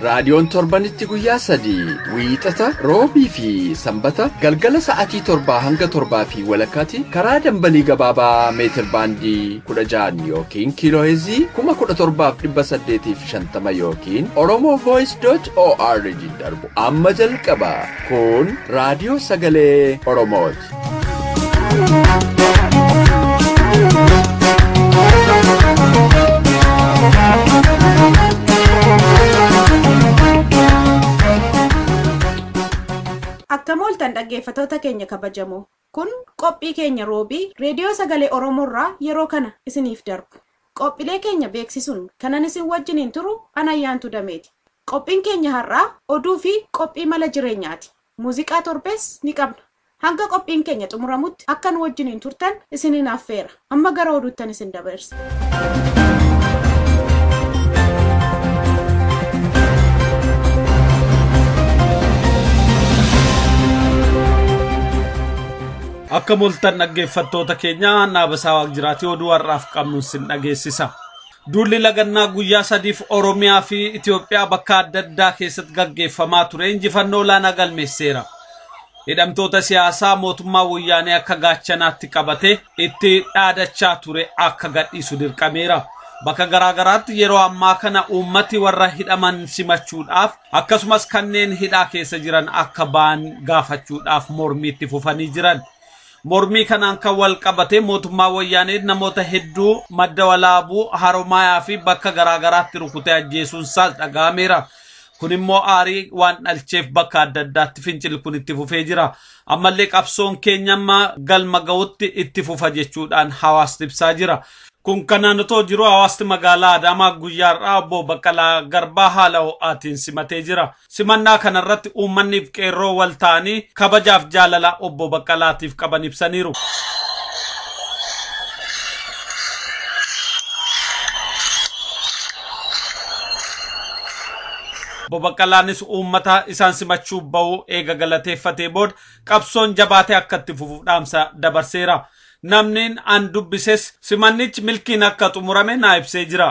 Raadiyoon torbanitti guyyaa sadii wiixata roobii fi sanbata galgala sa'atii torbaa hanga torbaa fi walakkaatti karaa dambalii gabaabaa meetir baandii kudha ja'an yookiin kiilooheezii kuma kudha torbaaf dhibba saddeetii fi shantama yookiin oromoo voice dot org darbu amma jalqaba kun raadiyoo sagalee oromooti. Akkam ooltan dhaggeeffatoota keenya kabajamoo. Kun qophii keenya roobii reediyoo sagalee Oromoorraa yeroo kana isiniif darbu. Qophiilee keenya beeksisuun kanan isin wajjiniin turu an ayyaantu dameeti. Qophiin keenya har'aa oduu fi qophii mala jireenyaati. Muuziqaa torbees ni qabna. Hanga qophiin keenya xumuramutti akka nu wajjiniin turtan isiniin affeera. Amma gara oduuttan isin dabarsa. Akka moltan dhaggeeffattoota keenya Naabasaa Waaqjiraatii oduu har'aaf qabnu sin dhageessisa. Duulli lagannaa guyyaa sadiif Oromiyaa fi Itoophiyaa bakka adda addaa keessatti gaggeeffamaa ture injifannoo olaanaa galmeesseera. Hidhamtoota siyaasaa mootummaa Wayyaanee akka gaachanaatti qabate itti dhaadachaa ture akka gadhiisu dirqameera. Bakka garaagaraatti yeroo ammaa kana uummati warra hidhaman simachuudhaaf akkasumas kanneen hidhaa keessa jiran akka ba'an gaafachuudhaaf mormiitti fufanii jiran. Mormii kanaan kan wal qabatee mootummaa Wayyaanee namoota hedduu madda walaabuu, haromaayaa fi bakka garaa garaatti rukutee ajjeesuun isaas dhaga'ameera. Kun immoo aarii waan dhalcheef bakka adda addaatti fincilli kun itti fufee jira. Ammallee qabsoon keenya amma galma ga'utti itti fufa jechuudhaan hawaasni ibsaa jira. Kun kanaan otoo jiru hawaasni magaalaa Adaamaa guyyaa har'aa obbo Baqqalaa Garbaa haala ho'aatiin simatee jira. Simannaa kanarratti uummanniif qeerroo wal ta'anii kabajaaf jaalala obbo Baqqalaatiif qaban ibsaniiru. Obbo Baqqalaanis uummata isaan simachuuf ba'uu eega galateeffatee booda qabsoon jabaatee akka itti fufuuf dhaamsa dabarseera. Namniin an dubbises simannichi milkiin akka xumurame naa ibsee jira.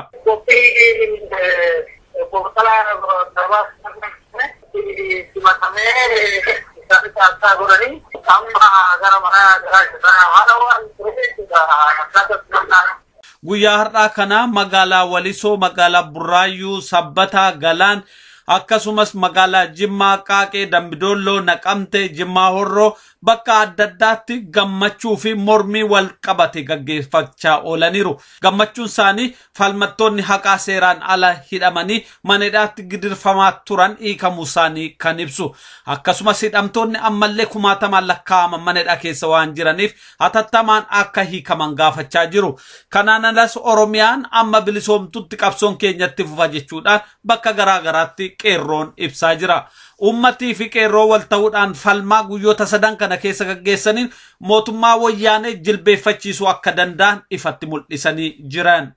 Guyyaa har'aa kana magaalaa Walisoo, magaalaa Burraayyuu, Sabbataa, Galaan akkasumas magaalaa Jimmaa, Qaaqee, Dambi Doolloo, Naqamtee, Jimmaa Horroo, bakka adda addaatti gammachuu fi mormii wal qabate gaggeeffachaa oolaniiru. Gammachuun isaanii falmattoonni haqaa seeraan ala hidhamanii manedhaatti gidirfamaa turan hiikamuu isaanii kan ibsu. Akkasumas hidhamtoonni ammallee kumaatamaan lakkaa'aman manedhaa keessa waan jiraniif hatattamaan akka hiikaman gaafachaa jiru. Kanaan alas Oromiyaan amma bilisoomtutti qabsoon keenyatti fufa jechuudhaan bakka garaa garaatti qeerroon ibsaa jira. Uummatii fi qeerroo wal ta'uudhaan falmaa guyyoota sadan kana keessa gaggeessaniin mootummaa Woyyaanee jilbeeffachiisuu akka danda'an ifatti mul'isanii jiran.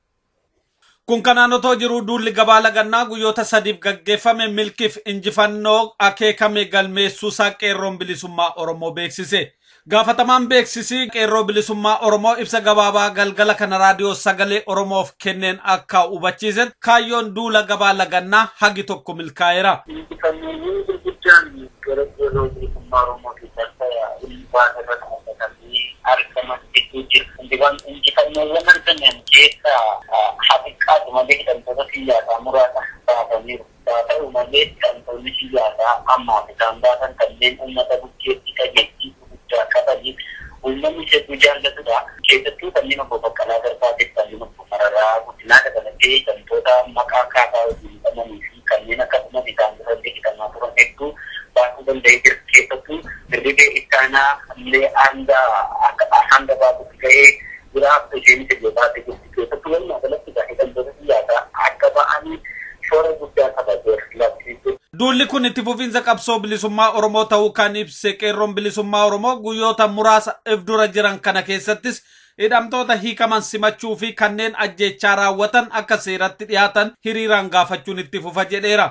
Kun kanaan otoo jiruu duulli gabaa lagannaa guyyoota sadiif gaggeeffame milkiif injifannoo akeekame galmeessuusaa Qeerroon Bilisummaa Oromoo beeksise. Gaafatamaan beeksisii Qeerroo Bilisummaa Oromoo ibsa gabaabaa galgala kana Raadiyoo Sagalee Oromoof kenneen akka hubachiisetti kaayyoon duula gabaa lagannaa hagi tokko milkaa'eera. Injifannoowwan gurguddaan gara Qeerroo Bilisummaa Oromootiin balbala ulfaa irra dhaabbatanii argaman hedduu jiru. Injifannoowwan argaman keessaa haa xiqqaatu malee hidhamtoota siyaasaa muraasa baasaniiru. Haa ta'u malee, hidhamtoonni siyaasaa ammaaf isaan baasan kanneen uummata bukkeetti dhageettii guguddaa qabanii uummanni sebbuu jaallatudha. Keessattuu kanneen Obbo Baqqalaa Garbaafi kanneen Obbo Mararaa Guddinaa dabalatee hidhamtoota maqaa KFA wajjin hidhamanii fi kanneen akka Umar isaan durallee hidhamaa turan hedduu baasuu danda'ee jira. Keessattuu Dirribee Ittaanaa illee hanga baasutti ga'ee jira. Isheenis illee baatee jirti. keessattuu walumaa galatti kan hidhamtoota siyaasaa akka ba'anii shoora guddaa taphateera. Labsiin kun. Duulli kun itti fufiinsa qabsoo bilisummaa Oromoo ta'uu kan ibse Qeerroon Bilisummaa Oromoo guyyoota muraasa if dura jiran kana keessattis hidhamtoota hiikaman simachuu fi kanneen ajjeechaa raawwatan akka seeratti dhiyaatan hiriiraan gaafachuun itti fufa jedheera.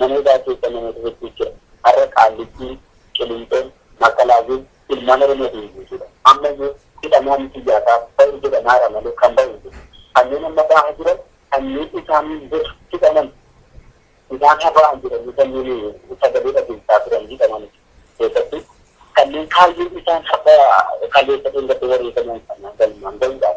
Namoota keessa namoota hedduu jira. Har'a Qaallittiin, Qilinxoon, Maakalaawwiin ilmaan Oromootiin guutuudha. Ammayyuu hidhamaan siyaasaa ba'u jedhamaara malee kan ba'u hin jiru. Kanneen amma ba'aa jiran kanneen isaan dur hidhaman isaan haa ba'an jedhanii kanneen sagalee dhageessisaa turan hidhaman keessatti kanneen kaayyoon isaan har'a kaleessa dheengadda wareegaman sana galmaan ga'uudhaaf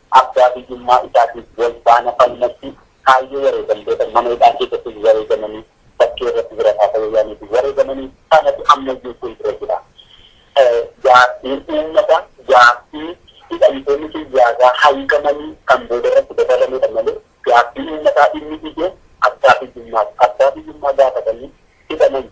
abbaa biyyummaa isaatiif wal faana falmatti kaayyoo wareegamtoota mana hidhaa keessattis wareegamanii bakkee irratti bira taata wayyaaneetiin wareegamanii sanatu ammayyuu fuuldura jira. Gaaffiin uummata gaaffii hidhamtoonni siyaasaa haiikamanii kan booda irratti dabalameedha malee gaaffiin uummataa inni ijoon abbaa biyyummaati. Abbaa biyyummaa gaafatanii hidhamanii.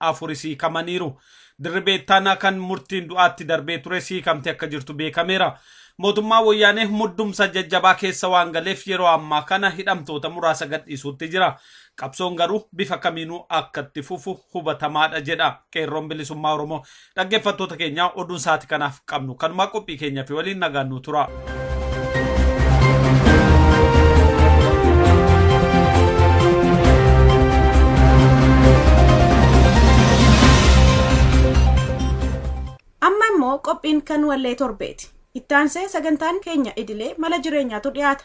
afuris hiikamaniiru. Dirribee Ittaanaa kan murtiin du'aatti darbee tures hiikamtee akka jirtu beekameera. Mootummaan Woyyaanee muddumsa jajjabaa keessa waan galeef yeroo ammaa kana hidhamtoota muraasa gadhiisuutti jira. Qabsoon garuu bifa kamiinuu akka itti fufu hubatamaadha jedha Qeerroon Bilisummaa Oromoo Dhaggeeffattoota keenya oduun sa'aatii kanaaf qabnu kanumaa qophii keenya fi waliin nagaan nu tura. Amma immoo qophiin kan wallee torbeeti. Ittaansee sagantaan keenya idilee mala jireenyaatu dhiyaata.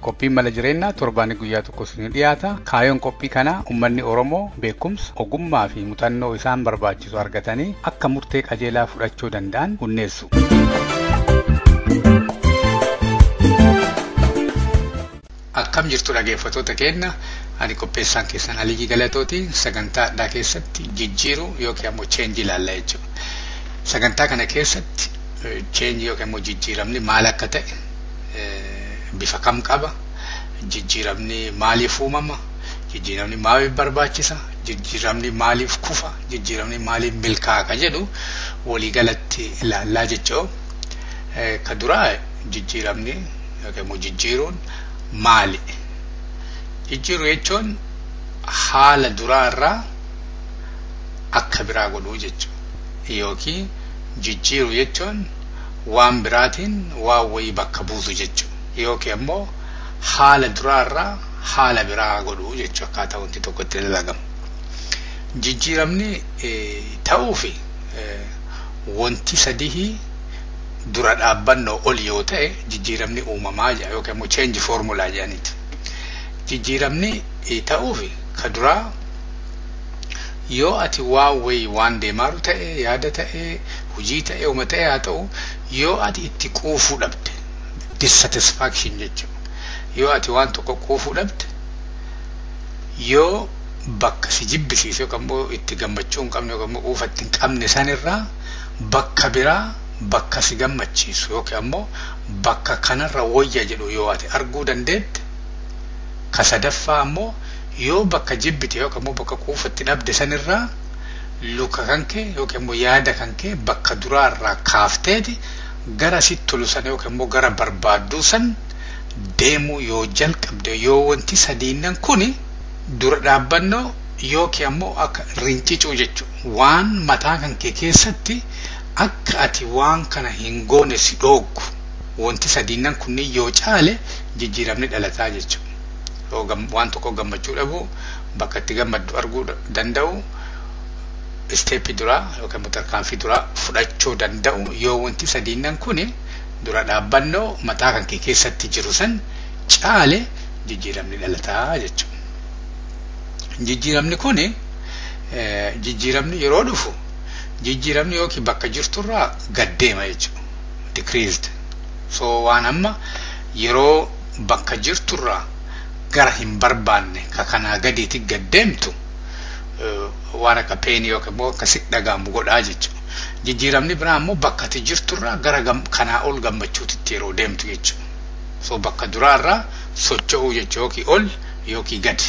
Qophiin Mala Jireennaa torbaanii guyyaa tokko isinii dhiyaata. Kaayoon qophii kanaa ummanni Oromoo beekumsa, ogummaa fi muxannoo isaan barbaachisu argatanii akka murtee qajeelaa fudhachuu danda'an hunneessu. Akkam jirtu dhageeffatoota keenna ani qopheessaan keessan Aliyyii Galatooti sagantaa addaa keessatti jijjiiruu yookiin ammoo cheenji ilaalla jechuudha. Sagantaa kana keessatti cheenji yookiin ammoo jijjiiramni maal akka ta'e bifa kam qaba? Jijjiiramni maaliif uumama? Jijjiiramni maaliif barbaachisa? Jijjiiramni maaliif kufa? Jijjiiramni maaliif milkaa'a ka jedhu waliigalatti ilaallaa jechoo. Ka duraa jijjiiramni yookiin immoo jijjiiruun maali? Jijjiiru jechuun haala duraa irraa akka biraa godhuu jechuudha. Yookiin jijjiiru jechuun waan biraatiin waan wayii bakka buusu jechu yookiin ammoo haala duraa irraa haala biraa godhu jechu akkaataa wanti tokko itti dalagamu. Jijjiiramni ta'uufi wanti sadihii dura dhaabbannoo ol yoo ta'e jijjiiramni uumamaa jedha yookiin ammoo change formula jedhaniiti. Jijjiiramni ta'uufi ka duraa Yoo ati waa wayii waan deemaaru ta'e, yaada ta'e, hujii ta'e, homa ta'e haa ta'u, yoo ati itti quufuu dhabde, dissatisfaction jecha, yoo ati waan tokko quufuu dhabde, yoo bakka si jibbisiise yookaan immoo itti gammachuu hin qabne yookaan immoo quufa itti hin qabne san irraa bakka biraa bakka si gammachiisu yookiin ammoo bakka kanarra woyya jedhu yoo ati arguu dandeette, ka sadaffaa ammoo Yoo bakka jibbite yookiin ammoo bakka quufa itti dhabde san irraa luka kanke yookiin ammoo yaada kanke bakka duraa irraa kaafteeti gara sitti tolu san yookiin ammoo gara barbaadduu san deemuu yoo jalqabde yoo wanti sadiinnan kuni dura dhaabbannoo yookiin ammoo akka rincicuu jechu waan mataa kanke keessatti akka ati waan kana hin goone si dhooggu wanti sadiinnan kunniin yoo caale jijjiiramni dhalataa jechu. waan tokko gammachuu dhabuu bakka itti gammaddu arguu danda'u isteeppii duraa yookaan immoo tarkaanfii duraa fudhachuu danda'u yoo wanti sadiinnan kun dura dhaabbannoo mataa kan kee keessatti jiru san caale jijjiiramni dhalataa jechuudha. Jijjiiramni kun jijjiiramni yeroo dhufu jijjiiramni yookiin bakka jirturraa gad deema jechuudha. Decreased. So waan amma yeroo bakka jirturraa gara hin barbaanne ka kanaa gadiiti gad deemtu waan akka peenii yookiin immoo akka sitti dhaga'amu godhaa jechuudha. Jijjiiramni biraa immoo bakka ati jirturraa gara kanaa ol gammachuutitti yeroo deemtu jechuudha. So bakka duraarraa socho'uu jechuudha yookiin ol yookiin gadi.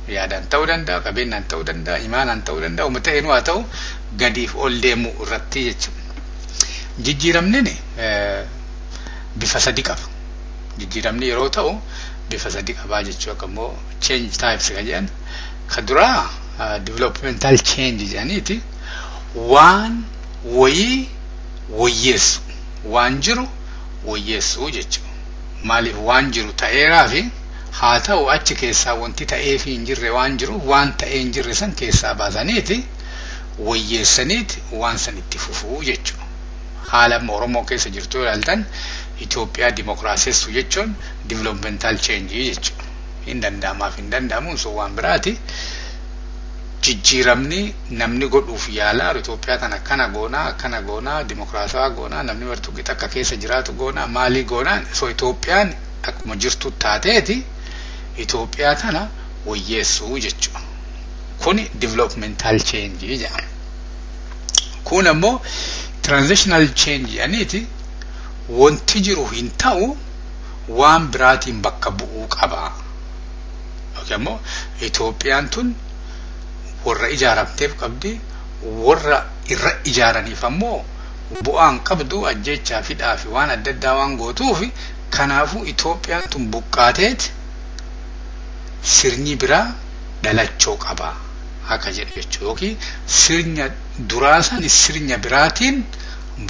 Yaadaan ta'uu danda'a, qabeenyaan ta'uu danda'a, imaanaan ta'uu danda'a, uma ta'eenuu haa ta'u gadiif ol deemuu irratti jechuudha. Jijjiiramni bifa sadi qaba. jijjiiramni yeroo ta'u bifa sadi qabaa jechuu akka immoo change types kan jedhan ka duraa developmental change jedhaniiti waan woyii woyyeessu waan jiru woyyeessu jechuu maaliif waan jiru ta'eeraa fi haa ta'u achi keessaa wanti ta'ee fi hin jirre waan jiru waan ta'ee hin jirre san keessaa baasaniiti woyyeessaniiti waan san itti fufuu jechuu haala amma Oromoo keessa jirtu yoo ilaaltan Itoophiyaa dimokiraasessuu jechuun developmental change jechuudha. Hin danda'amaaf hin danda'amuun sun waan biraati. Jijjiiramni namni godhuuf yaalaa Itoophiyaa tana akkana goonaa akkana goonaa dimokiraasawaa goonaa namni martuu qixa akka keessa jiraatu goonaa maalii goonaa so Itoophiyaan akkuma jirtu taateeti Itoophiyaa tana woyyeessuu jechuudha. Kuni developmental change jedhama. kun ammoo transitional change jedhaniiti wanti jiru hin ta'u waan biraatiin bakka bu'uu qaba. Yookiin ammoo Itoophiyaan tun warra ijaaramteef qabdi warra irra ijaaraniif ammoo bu'aan qabdu ajjeechaa fi hidhaa fi waan adda addaa waan gootuuf kanaafuu Itoophiyaan tun buqqaateet sirni biraa dhalachoo qaba. haqa jedhu jechuudha yookiin sirnya duraa sani sirnya biraatiin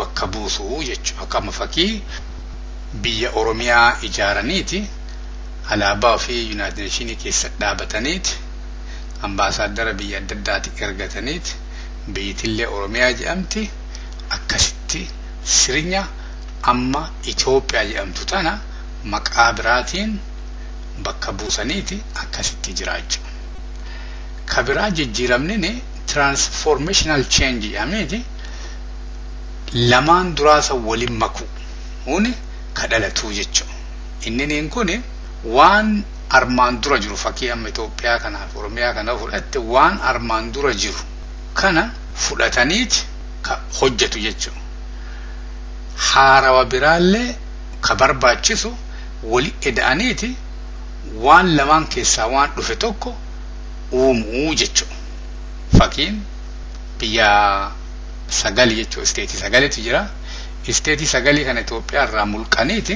bakka buusu jechuudha akka amma fakii biyya oromiyaa ijaaraniiti alaabaa ofii yuunaayitid neeshinii keessa dhaabataniiti ambaasaaddara biyya adda addaati ergataniiti biyyitillee oromiyaa jedhamti akkasitti sirnya amma Itoophiyaa jedhamtu tana maqaa biraatiin bakka buusaniiti akkasitti jiraachu. Ka biraa jijjiiramnin transformational change jedhameeti lamaan duraa san walin makuun ka dhalatuu jechu. Inniniin kun waan armaan dura jiru fakii amma Itoophiyaa kanaaf Oromiyaa kana fudhatte waan armaan dura jiru kana fudhataniit ka hojjatu jechu. Haarawa biraallee ka barbaachisu wali eda'aniiti waan lamaan keessaa waan dhufe tokko uumuu jechu fakiin biyya sagali jechu isteetii sagalitu jira isteetii sagalii kana Itoophiyaa irraa mulqaniiti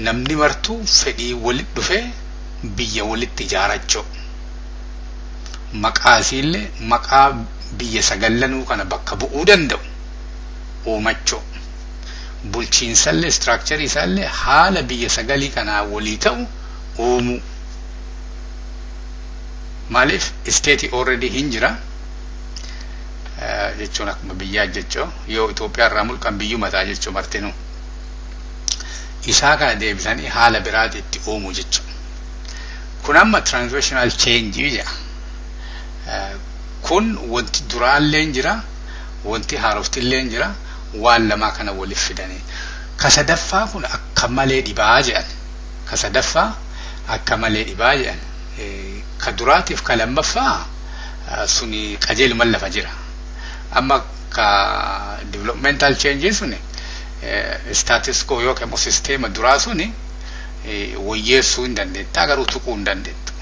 namni martuu fedhii walit dhufee biyya walitti ijaarachuu maqaa isiillee maqaa biyya sagallanuu kana bakka bu'uu danda'u uumachuu bulchiinsallee structure isaallee haala biyya sagalii kanaa walii ta'u uumuu maaliif isteetii already hin jira jechuun akkuma biyyaa jechoo yoo Itoophiyaa irraa mulqan biyyuma ta'a jechuu martinuu isaa kana deebisanii haala biraati itti uumuu jechuu kun amma transitional change jedha kun wanti duraallee jira wanti haaroftillee jira waan lamaa kana wolif fidanii ka sadaffaa kun akka malee dhibaa je'an ka sadaffaa akka malee dhibaa je'an ka duraatiif ka lammaffaa suni qajeeluma lafa jira amma ka developmental change suni status quo yookiin immoo sisteema duraa suni woyyeessuu hin dandeettaa garuu tuquu hin dandeettu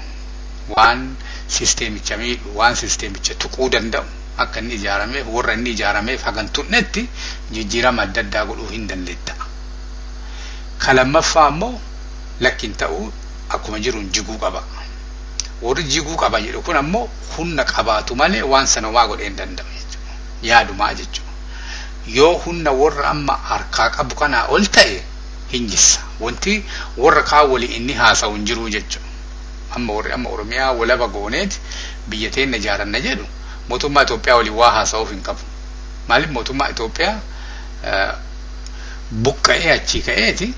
waan sisteemicha miidhu waan sisteemicha tuquu danda'u akka inni ijaarameef warra inni ijaarameef haga hin tunnetti jijjiirama adda addaa godhuu hin dandeetta. Ka lammaffaa ammoo lakki hin ta'u akkuma jiruun jiguu qaba. Warri jiguu qaba jedhu kun ammoo hunna qabaatu malee waan sana homaa godhee hin danda'u jechuudha. Yaadumaa jechuudha. Yoo hunna warra amma harkaa qabu kanaa ol ta'e hin jissa. Wanti warra kaan waliin inni haasa'u hin jiruu jechuudha. Amma warri amma Oromiyaa walaba gooneeti biyya teenna ijaaranna jedhu Mootummaa Itoophiyaa waliin waa haasa'uuf hin qabu. Maaliif mootummaa Itoophiyaa buqqa'ee achii ka'eeti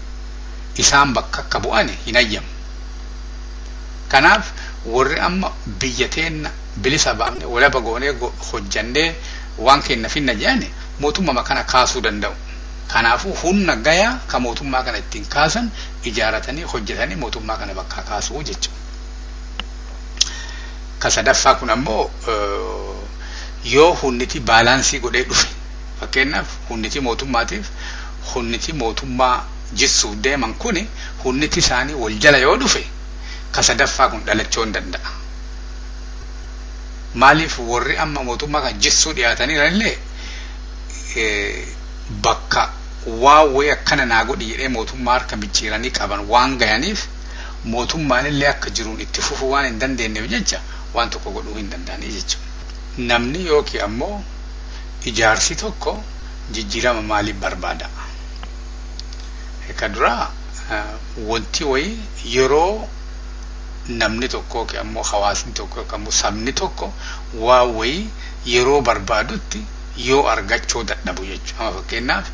isaan bakka akka bu'an hin hayyamu. Kanaaf warri amma biyya teenna bilisa baafne walaba goonee hojjannee waan keenna finna jedhan mootummama kana kaasuu danda'u. Kanaafuu humna gayaa ka mootummaa kana ittiin kaasan ijaaratanii hojjetanii mootummaa kana bakkaa kaasuu jechuudha. Ka sadaffaa kun ammoo yoo hunniti baalaansii godhee dhufe fakkeenyaaf hunniti mootummaatiif hunniti mootummaa jissuuf deeman kuni hunniti isaanii wal jala yoo dhufe ka sadaffaa kun dhalachoo hin danda'a. Maaliif warri amma mootummaa kan jissuu dhiyaatanii jiranillee bakka waan wayii akkana naa godhi jedhee mootummaa harka micciiranii qaban waan gayaniif mootummaanillee akka jiruun itti fufuu waan hin dandeenyeef jecha waan tokko godhuu hin danda'anii jechuudha. Namni yookiin ammoo ijaarsi tokko jijjiirama maalii barbaada? Ka duraa wanti wayii yeroo namni tokko yookiin ammoo hawaasni tokko yookiin ammoo sabni tokko waa wayii yeroo barbaadutti yoo argachuu dadhabu jechuudha. Amma fakkeenyaaf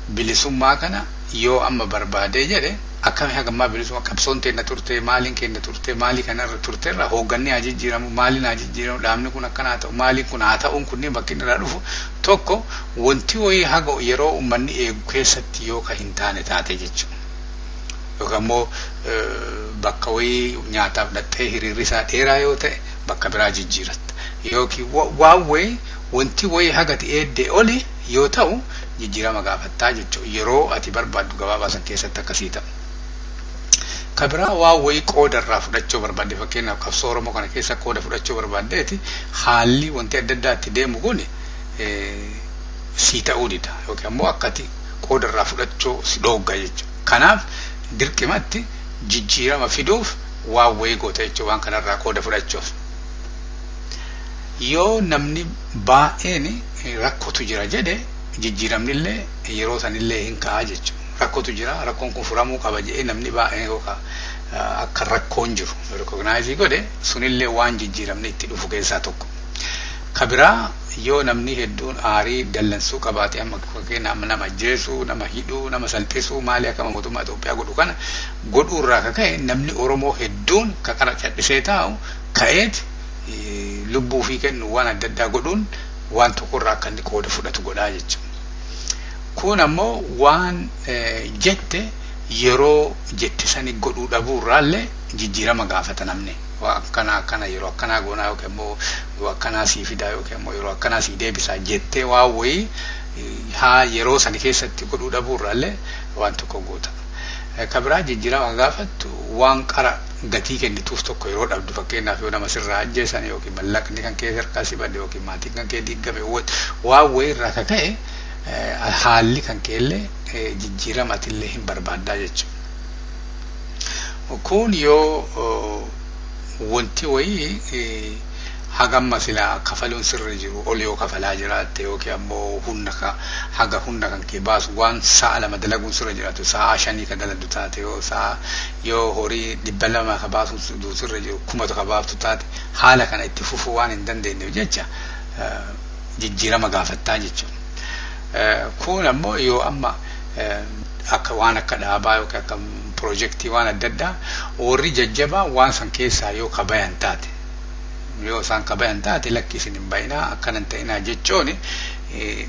bilisummaa kana yoo amma barbaadee jedhe Akkami hagammaa bilisuma qabsoon teenna turte, maaliin keenna turte, maalii kana irra turterra hoogganni haa jijjiiramu, maaliin haa jijjiiramu, dhaabni kun akkana haa ta'u, maaliin kun haa ta'uun kunniin bakki inni irraa dhufu tokko wonti woyii haga yeroo ummanni eegu keessatti yoo ka hin taane taate jechu. Yookaan immoo bakka woyii nyaataaf dhaqxee hiriirri isaa dheeraa yoo ta'e bakka biraa jijjiiratta. Yookiin waan woyii wonti woyii hagati eeddee oli yoo ta'u jijjiirama gaafattaa jechuudha. Yeroo ati barbaaddu gabaabaa san keessatti akka sii ta'u. Ka biraa waan wayii qooda irraa fudhachuu barbaadde fakkeenyaaf qabsoo Oromoo kana keessa qooda fudhachuu barbaaddeeti haalli wanti adda addaa itti deemu kun sii ta'uu dida yookiin ammoo akka ati qooda irraa fudhachuu si dhoogga jechuudha. Kanaaf dirqimatti jijjiirama fiduuf waan wayii goota jechuudha waan kanarraa qooda fudhachuuf. Yoo namni baay'een rakkotu jira jedhe jijjiiramnillee yeroo sanillee hin ka'a jechuudha. Rakkotu jira, rakkoon kun furamuu qaba jedhee namni baay'een yoo ka akka rakkoon jiru recognize godhe sunillee waan jijjiiramni itti dhufu keessaa tokko. Ka biraa yoo namni hedduun aarii dallansuu qabaate amma fakkeenyaaf nama ajjeesuu, nama hidhuu, nama salphisuu maalii akkama mootummaa Itoophiyaa godhu kana godhuu irraa ka ka'e namni Oromoo hedduun ka qara cadhisee taa'u ka'eet lubbuu ofii kennu waan adda addaa godhuun waan tokko irraa akka inni qooda fudhatu godhaa jechuudha. Kun ammoo waan jette yeroo jette sani godhuu dhabuu irraallee jijjiirama gaafata namni. Waa akkana akkana yeroo akkanaa goonaa yookiin immoo yoo akkanaa sii fidaa yookiin immoo yeroo akkanaa sii deebisaa jettee waa wayii haa yeroo sani keessatti godhuu dhabuu irraallee waan tokko goota. Ka biraa jijjiirama gaafattu waan qara gatii kennituuf tokko yeroo dhabdu fakkeenyaaf yoo nama sirraa ajjeesan yookiin mallaqni kan kee harkaa si bade yookiin maatiin kan kee diiggame waan wayii irraa ka ka'e haalli kan kee illee jijjiirama ati illee hin barbaaddaa jechuudha. Kun yoo wanti wayii hagamma silaa kafaluun sirri jiru ol yoo kafalaa jiraatte yookiin ammoo humna haga humna kan kee baasu waan sa'a lama dalaguun sirra jiraatu sa'a shanii ka dalagdu taate yoo sa'a Yoo horii 200 ka baasuutti duutu irra jiru 1000 ka baaftu taate haala kana itti fufuu waan hin dandeenyeef jecha jijjiirama gaafattaa jechuudha. Kuun ammoo yoo amma akka waan akka dhaabaa yookiin akka pirojektii waan adda addaa warri jajjabaan waan san keessaa yoo ka bayan taate yoo isaan ka bayan taate lakki isin hin bayinaa akkana hin ta'inaa jechooni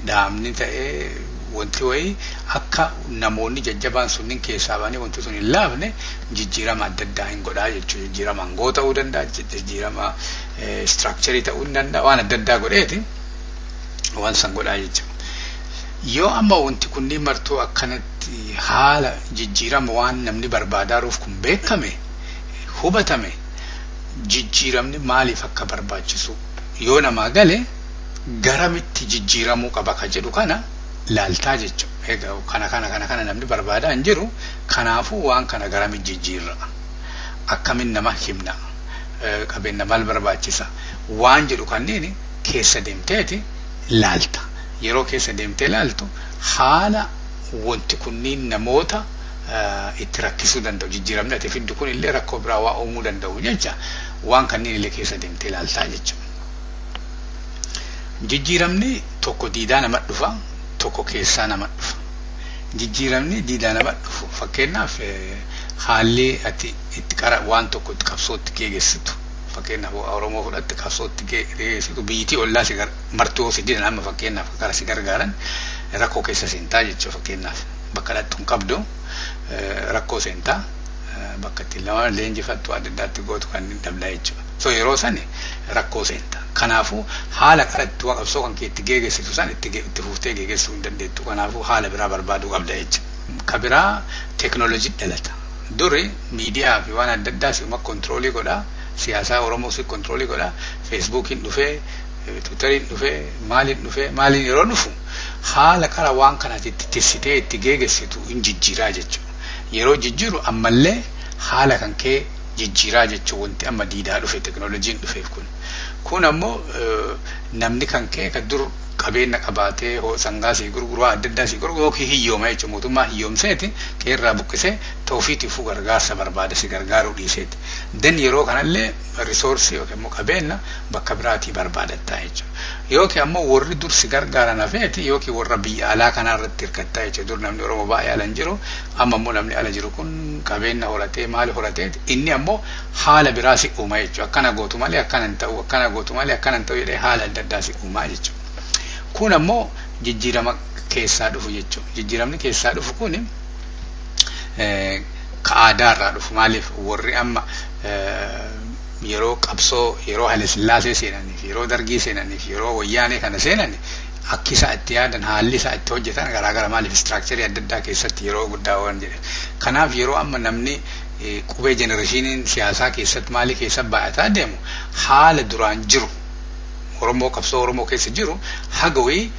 dhaabni ta'ee wanti wayii akka namoonni jajjabaan sunniin keessaa ba'anii wanti sun hin laafne jijjiirama adda addaa hin godhaa jechuudha. Jijjiirama aangoo ta'uu danda'a, jijjiirama istiraakcharii ta'uu hin danda'a, waan adda addaa godheeti waan san godhaa jechuudha. Yoo amma wanti kunniin martuu akkanatti haala jijjiirama waan namni barbaadaaruuf kun beekame, hubatame, jijjiiramni maaliif akka barbaachisu yoo namaa gale, garamitti jijjiiramuu qaba ka jedhu kana laaltaa jechu. Egaa kana kana kana kana namni barbaadaa hin jiru. Kanaafuu waan kana garamitti jijjiirra? Akkamin nama himna? Qabeenna maal barbaachisa? Waan jedhu kanniin keessa deemteeti laalta. Yeroo keessa deemtee laaltu haala wanti kunniin namoota itti rakkisuu danda'u jijjiiramni ati fiddu kun illee rakkoo biraa waa uumuu danda'u jecha waan kanniin illee keessa deemtee laaltaa jechuudha. Jijjiiramni tokko diidaa nama dhufa, tokko keessaa nama dhufa. Jijjiiramni diidaa nama dhufu fakkeenyaaf haalli ati itti qara waan tokko itti qabsootti geegessitu fakkeenyaaf Oromoo fudhatte qabsootti geegessitu biyyitii ollaa si martuu yoo si didan amma fakkeenyaaf gara si gargaaran rakkoo keessa seentaa jechuudha fakkeenyaaf bakka dhattu hin qabdu rakkoo seentaa bakka ittiin lama leenjifattu adda addaatti gootu kan hin dhabla jechuudha. So yeroo sani rakkoo seenta. Kanaafu haala kara itti wa qabsoo kan kee itti geegessitu san itti itti fuftee geegessuu hin dandeettu. Kanaafu haala biraa barbaaduu qabda jecha. Ka biraa technology dhalata. Duri miidiyaa fi waan adda addaa si'uma control godha. Siyaasaa Oromoo si control godha. Facebookiin dhufee, Twitteriin dhufee, maaliin dhufee, maaliin yeroo dhufu haala kara waan kana ati itti tissitee itti geegessitu hin jijjiiraa jechu. Yeroo jijjiiru ammallee haala kan kee jijjiiraa jechuun wanti amma diidaa dhufe teknolojiin dhufeef kun kun ammoo namni kan ka'e kan dur qabeenna qabaatee sangaa sii gurguru waan adda addaa sii gurguru yookiin hiyyooma jechuun mootummaa hiyyoomseeti qeerraa buqqisee ta'ufiitiifuu gargaarsa barbaada si gargaaruu dhiiseeti. Den yeroo kanallee risoorsii yookiin immoo qabeenna bakka biraatii barbaadattaa jechuudha. Yookiin ammoo warri dur si gargaaran hafeeti yookiin warra biyya alaa kanaa irratti hirkattaa jechuudha. Dur namni Oromoo baay'ee alan jiru Amma immoo namni ala jiru kun qabeenna horatee maali horatee inni ammoo haala biraa si uuma jechuudha. Akkana gootu malee akkana hin ta'u, akkana gootu malee akkana hin ta'u jedhee haala adda addaa si uumaa jechuudha. Kun ammoo jijjiirama keessaa dhufu jechuudha. Jijjiiramni keessaa dhufu kun ka aadaa irraa dhufu maaliif warri amma yeroo qabsoo yeroo Haile Sillaasee seenaniif yeroo Dargii seenaniif yeroo Wayyaanee kana seenan Akki isaan itti yaadan, haalli isaan itti hojjetan garaagara. Maaliif istiraakcharii adda addaa keessatti yeroo guddaa waan jedheef. Kanaaf yeroo amma namni qubee jenerashiiniin siyaasaa keessatti maalii keessa baay'ataa deemu haala duraan jiru Oromoo qabsoo Oromoo keessa jiru haga wayii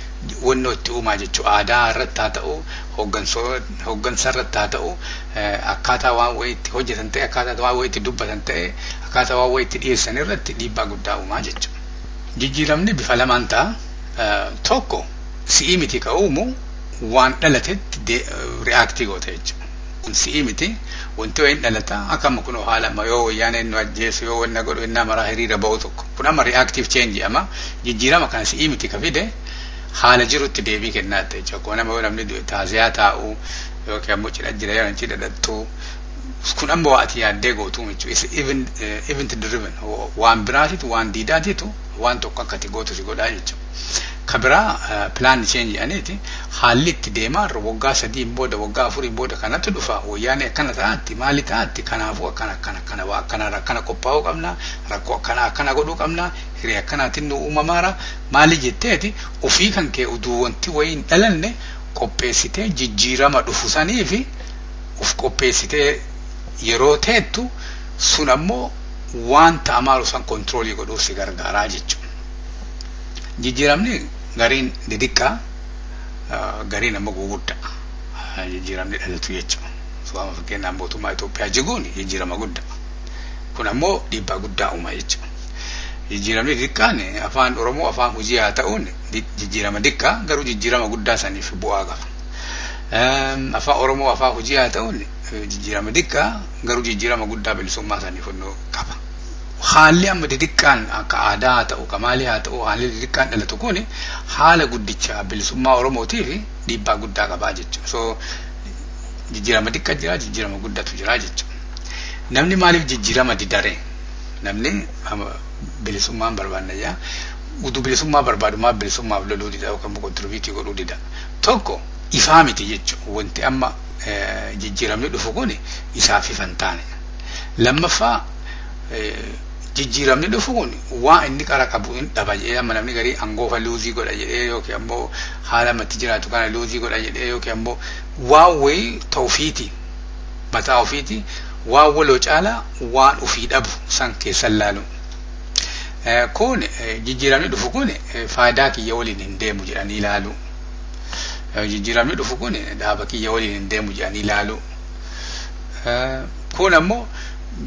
wannoo itti uumaa jechuu aadaa irratti haa ta'u hooggansa irratti haa ta'u akkaataa waan wayii itti hojjetan ta'e akkaataa waan wayii itti dubbatan ta'e akkaataa waan wayii itti dhiyeessan irratti dhiibbaa guddaa uumaa jechuudha. Jijjiiramni bifa lamaan ta'a. Tokko si'ii miti ka uumu waan dhalatetti ri'aaktii goota jechuudha. Kun si'ii miti wanti wayiin dhalata akka amma kunoo haala amma yoo wayyaaneen nu ajjeesu yoo wanna godhu innaa maraa hiriira ba'u tokko. Kun amma ri'aaktiif cheenji amma jijjiirama kana si'ii miti ka fide haala jirutti deebii kennaatta jechuudha. Akkuma nama yoo namni du'e taaziyaa taa'u yookiin ammoo cidha jira yoo cidha dhaqxu kun amma waa ati yaaddee gootuu michu is even eh, event driven Wa- waan biraatitu waan diidaatitu waan tokko akka ati gootu si godhaa jechu ka biraa eh, plan change jedhaniiti haalli itti deemaa irra waggaa sadiin booda waggaa afuriin booda kanatu dhufa wayyaanee akkana ta'aatti maali ta'aatti kanaafuu akkana akkana akkana waa akkana akkana qophaa'uu qabna rakkoo akkana akkana godhuu qabna hiree akkanaatiin nu uumamaara maali jetteeti ofii kan kee uduu wanti wayii hin dhalanne qopheessitee jijjiirama dhufu saniifi uf qopheessitee yeroo teettu sun ammoo wanta amaalu san kontiroolii godhuuf si gargaaraa jechuudha. Jijjiiramni gariin didiqqaa gariin ammoo guguddaa jijjiiramni dhalatu jechuudha. Sooma fakkeenyaaf mootummaa Itoophiyaa jiguun jijjiirama guddaa. Kun ammoo dhiibbaa guddaa uuma jechuudha. Jijjiiramni diqqaan afaan Oromoo afaan hojii haa ta'uun jijjiirama diqqaa garuu jijjiirama guddaa saniif bu'aa qaba. Afaan Oromoo afaan hojii haa ta'uun jijjiirama xiqqaa garuu jijjiirama guddaa bilisummaa saniif honnoo qaba. Haalli amma xixiqqaan akka aadaa haa ta'u, kamaalii haa ta'u, haalli xixiqqaan dhalatu kun haala guddicha bilisummaa Oromootiif dhiibbaa guddaa qabaa jechuudha. So jijjiirama xiqqaa jira, jijjiirama guddatu jira jechuudha. Namni maaliif jijjiirama didare? Namni bilisummaan barbaadna jaa. Utuu bilisummaa barbaadu maaf bilisummaaf loluu dida yookaan kontirbiitii godhuu dida? Tokko ifaa miti jechuudha. Wanti amma jijjiiramni dhufu kun isaaf ifa hin taane. Lammaffaa jijjiiramni dhufu kun waa inni qara qabu hin dhaba jedhee amma namni garii angoofa luuzii godha jedhee yookiin ammoo haala matti jiraatu kana luuzii godha jedhee yookiin ammoo waa wayii ta ofiiti mataa ofiiti waa waloo caalaa waan ofii dhabu san keessan laalu. Kun jijjiiramni dhufu kun faayidaa kiyya waliin hin deemu jedhanii ilaalu. Jijjiiramni dhufu kun dhaaba kiyya waliin hin deemu jedhanii ilaalu. Kun ammoo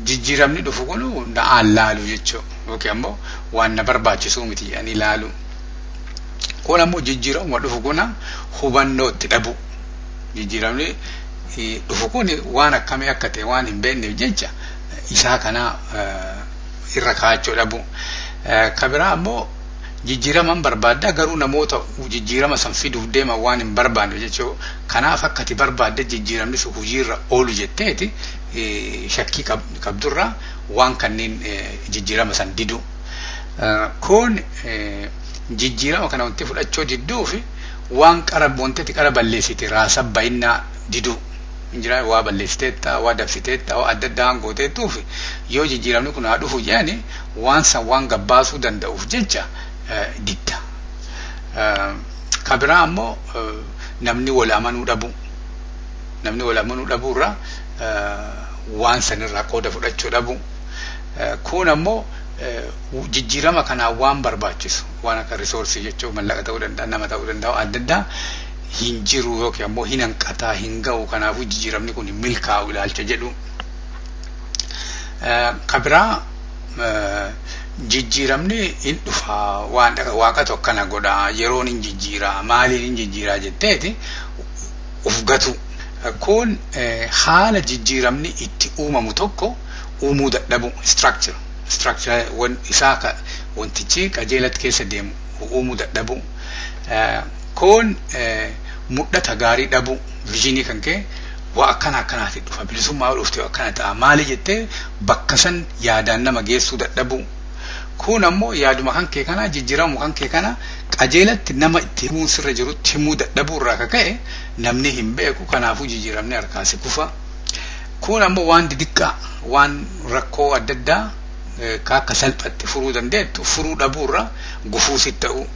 jijjiiramni dhufu kun na'aan laalu jechuudha. Yookiin ammoo waan na barbaachisuu miti jedhanii ilaalu. Kun ammoo jijjiiramuma dhufu kun hubannoo itti dhabu. Jijjiiramni dhufu kun waan akkamii akka ta'e waan hin beekneef jecha isaa kana irra kaa'achuu dhabuu. Ka biraa ammoo jijjiiraman barbaadda garuu namoota jijjiirama san fiduuf deeman waan hin barbaanne jechuu kanaaf akka ati barbaadde jijjiiramni sun hojiirra oolu jetteeti shakkii qabdurraa waan kanneen jijjiirama san diduu. Kun jijjiirama kana wanti fudhachuu didduu fi waan qara wantati qara balleessite raasa bayinnaa diduu. hin jiraan waa balleessiteetta, waa dabsiteetta, waa adda addaa waan gooteettuuf yoo jijjiiramni kun haa dhufu jedhani waan san waan gabbaasuu danda'uuf jecha didda. Ka biraa ammoo namni wal amanuu dhabuu. Namni wal amanuu dhabuurraa waan sanirraa qooda fudhachuu dhabuu. Kun ammoo jijjiirama kanaa waan barbaachisu waan akka risoorsii jechuun mallaqa ta'uu danda'a, nama ta'uu danda'a, adda addaa hin jiru yookiin ammoo hin hanqataa hin ga'u kanaafuu jijjiiramni kun hin milkaa'u ilaalcha jedhu. Ka biraa jijjiiramni hin dhufa waan waaqatu akkana godha yeroon hin jijjiira maaliin hin jijjiira jetteeti of gatu. Kun haala jijjiiramni itti uumamu tokko uumuu dadhabu structure structure isaa wantichi qajeelatti keessa deemu uumuu dadhabu. Kun mudhata gaarii dhabuu, vision kan kee waa akkana akkanaati dhufa bilisummaa yoo dhufte akkana ta'a maali jettee bakka san yaadaan nama geessuu dadhabuu. Kun ammoo yaaduma kan kee kana jijjiiramu kan kee kana qajeelatti nama itti himuun sirra jirutti himuu dadhabuu irraa ka ka'e namni hin beeku kanaafuu jijjiiramni harkaa si kufa. Kun ammoo waan didiqqaa waan rakkoo adda addaa ka akka salphatti furuu dandeettu furuu dhabuu irraa gufuu si ta'uu.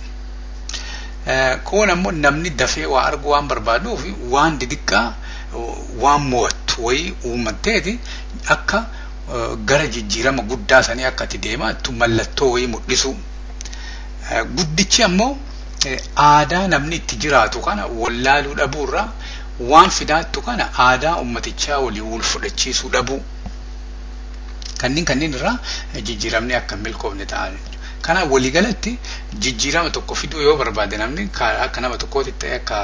Kun ammoo namni dafee waa arguu waan barbaaduuf waan didiqqaa waan mo'attu wayii uummatteeti akka gara jijjiirama guddaa sanii akka itti deemaattu mallattoo wayii mul'isuu. Guddichi ammoo aadaa namni itti jiraatu kana wallaaluu dhabuu irraa waan fidaattu kana aadaa uummatichaa waliin wal fudhachiisuu dhabuu. Kanneen kanneen irraa jijjiiramni akka hin milkoofne ta'a. Kanaaf waliigalatti jijjiirama tokko fiduu yoo barbaade namni akka nama tokkootitti ta'e akka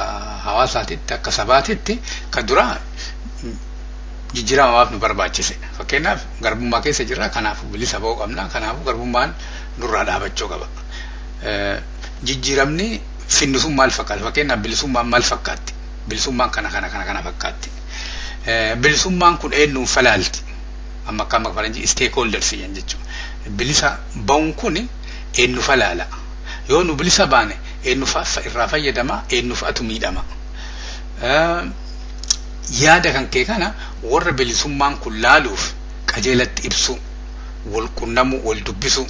hawaasaatitti akka sabaatitti ka duraa jijjiirama maaf nu barbaachise fakkeenyaaf garbummaa keessa jirra kanaaf bilisa ba'uu qabna kanaaf garbummaan nurraa dhaabachuu qaba. Jijjiiramni finnu sun maal fakkaata fakkeenyaaf bilisummaan maal fakkaatti bilisummaan kana kana kana kana fakkaatti bilisummaan kun eenyuun falaalti amma akka amma faranjii stakeholders jedhan jechuudha. Bilisa ba'uun kun eenyufa laala. Yoo nu bilisa baane eenyufa irraa fayyadama eenyufatu miidhama. Yaada kan kee kana warra bilisummaan kun laaluuf qajeelatti ibsuu, wal qunnamuu, wal dubbisuu.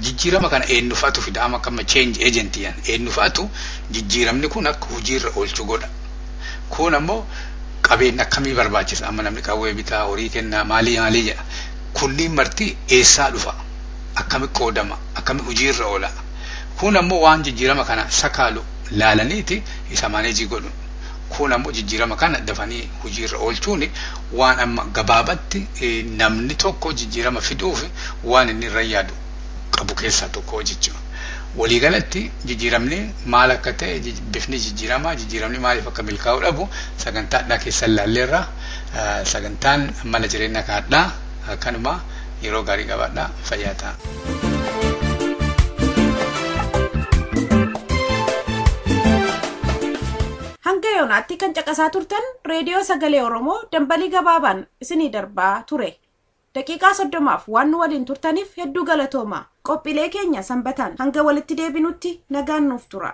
Jijjiirama kana eenyufatu fida amma akka amma change agent jedhan eenyufatu jijjiiramni kun akka hojiirra oolchu godha. Kuun ammoo qabeenna akkamii barbaachisa? Amma namni qawwee bitaa, horii kennaa, maalii maalii jedha. Kunniin marti eessaa dhufa? Akkami qoodama? Akkami hujii irra oola? Kuun ammoo waan jijjiirama kana sakaalu laalaniiti isa maaneejii godhu. Kuun ammoo jijjiirama kana dafanii hujii irra oolchuun waan amma gabaabatti namni tokko jijjiirama fiduuf waan inni irra yaadu. qabu keessaa tokko jechuudha. Waliigalatti jijjiiramni maal akka ta'e, jij- bifni jijjiiramaa, jijjiiramni maaliif akka milkaa'uu dhabu sagantaa hadhaa keessa ilaalleerra. Eh, Sagantaan mala jireenya akka hadhaa eh, kanuma yeroo gaarii qabaadha fayyaa ta'a. Hanga yoonaatti kan caqasaa turtan reediyoo sagalee Oromoo dambalii gabaabaan isinii darbaa ture. Daqiiqaa 30f waan nu waliin turtaniif hedduu galatoomaa. Qophiilee keenya Sanbataan hanga walitti deebinutti nagaan nuuf tura.